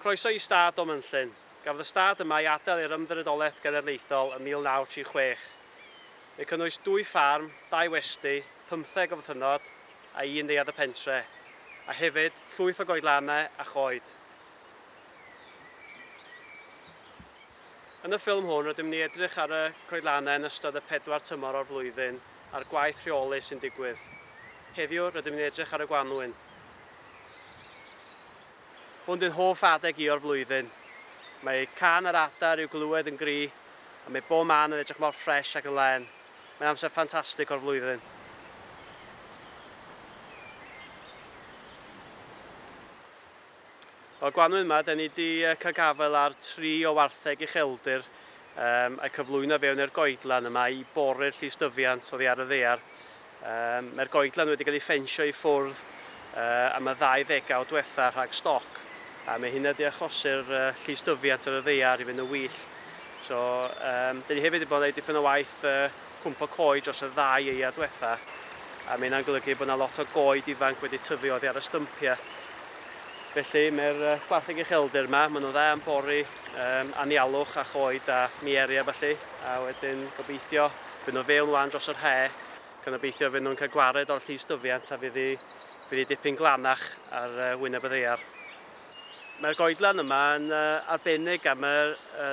Croeso i Stad o Mynllyn. Gafodd y stad yma ei adael i'r Ymddiriedolaeth Genedlaethol ym 1936. Mae cynnwys dwy ffarm, dau westy, pymtheg o fythynnod a un neuadd y pentre, a hefyd llwyth o goedlanau a choed. Yn y ffilm hwn rydym ni edrych ar y coedlanau yn ystod y pedwar tymor o'r flwyddyn a'r gwaith rheoli sy'n digwydd. Heddiw rydym ni'n edrych ar y gwanwyn. Hwn dyw'n hoff adeg i o'r flwyddyn. Mae cân yr adar i'w glywed yn gry, a mae bob man yn edrych mor ffresh ac yn len. Mae'n amser ffantastig o'r flwyddyn. O'r gwanwyn yma, da ni wedi cael gafael ar tri o wartheg ucheldir um, a'i cyflwyno fewn i'r goedlan yma i bori'r llystyfiant oddi ar y ddear. Mae'r goedlan wedi cael ei ffensio i ffwrdd am y ddau ddegawd diwetha' rhag stoc, a mae hynna 'di achosi'r llystyfiant ar y ddaear i fynd yn wyllt. So, yym, 'dan ni hefyd 'di bod yn neud dipyn o waith yy cwmpo coed dros y ddau aead diwetha', a mae hynna'n golygu bod 'na lot o goed ifanc wedi tyfu oddi ar y stympia'. Felly, mae'r yy gwartheg ucheldir 'ma, ma' nhw'n dda am bori yym anialwch a choed a mieria' a ballu, a wedyn gobeithio Fy nhw fewn wan dros yr hae, gan obeithio fy nhw'n cael gwared o'r llys dyfiant a fydd hi dipyn glanach ar wyneb y ddaear. Mae'r goedlan yma yn arbennig am y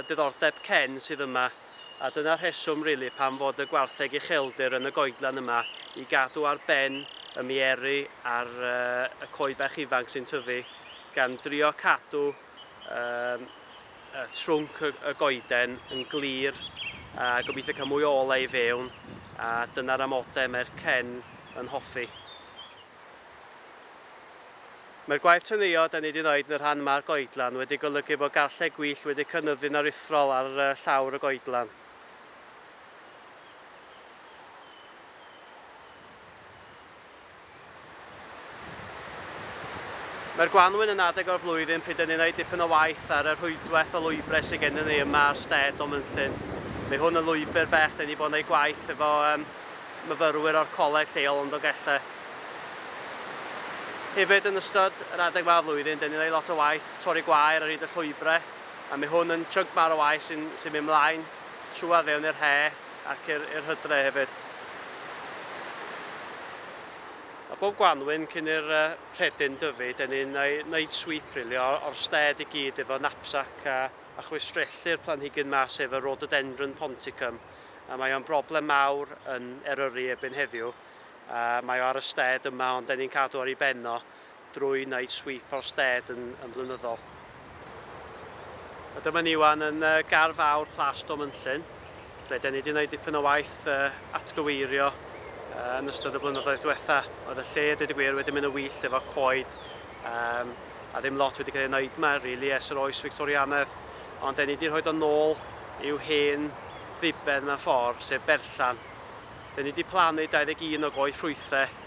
diddordeb cen sydd yma, a dyna'r rheswm rili pam fod y gwartheg ucheldir yn y goedlan yma i gadw ar ben y mieri ar y coed bach ifanc sy'n tyfu, gan drio cadw trwnc y goeden yn glir a gobeithio cael mwy o olau i fewn a dyna'r amodau mae'r cen yn hoffi. Mae'r gwaith teneuo da ni wedi wneud yn y rhan yma'r goedlan wedi golygu bod garlleg gwyllt wedi cynyddu'n aruthrol ar llawr y goedlan. Mae'r gwanwyn yn adeg o'r flwyddyn pryd dyn ni'n wneud dipyn o waith ar y rhwydwaith o lwybrau sydd gennym ni yma ar stêd o Mynllyn. Mae hwn yn lwybr bell, dyn ni wedi bod yn gwneud gwaith efo yym myfyrwyr o'r coleg lleol yn Dolgellau. Hefyd yn ystod yr adeg yma o flwyddyn dyn ni'n gwneud lot o waith torri gwair ar hyd y llwybrau a mae hwn yn chunk mawr o waith sy'n sy'n mynd mlaen trwyadd fewn i'r he. ac i'r i'r hydre hefyd. A bob gwanwyn cyn i'r uh, rhedyn dyfu, dyn ni'n wneud sweep really, o'r, or sted i gyd efo knapsack a, a chwistrellu'r planhigyn ma sef y rhododendron ponticum. A mae o'n broblem mawr yn Eryri ebyn heddiw. A mae o ar y sted yma ond dyn ni'n cadw ar ei benno. drwy wneud sweep o'r stêd yn, yn flynyddol. A dyma ni wan yn uh, gar fawr Plas Domynllyn, ble da ni wedi gwneud dipyn o waith uh, atgyweirio uh, yn ystod y blynyddoedd diwetha. Oedd y lle, dweud y gwir, wedi mynd yn wyllt efo coed, um, a ddim lot wedi cael ei wneud yma, rili, really, ers yr oes Victorianedd. Ond da ni wedi rhoi o'n nôl i'w hen ddiben mewn ffordd, sef berllan. Da ni wedi plannu 21 o goed ffrwythau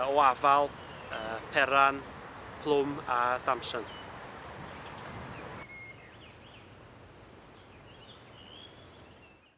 o afal, peran, plwm a damson.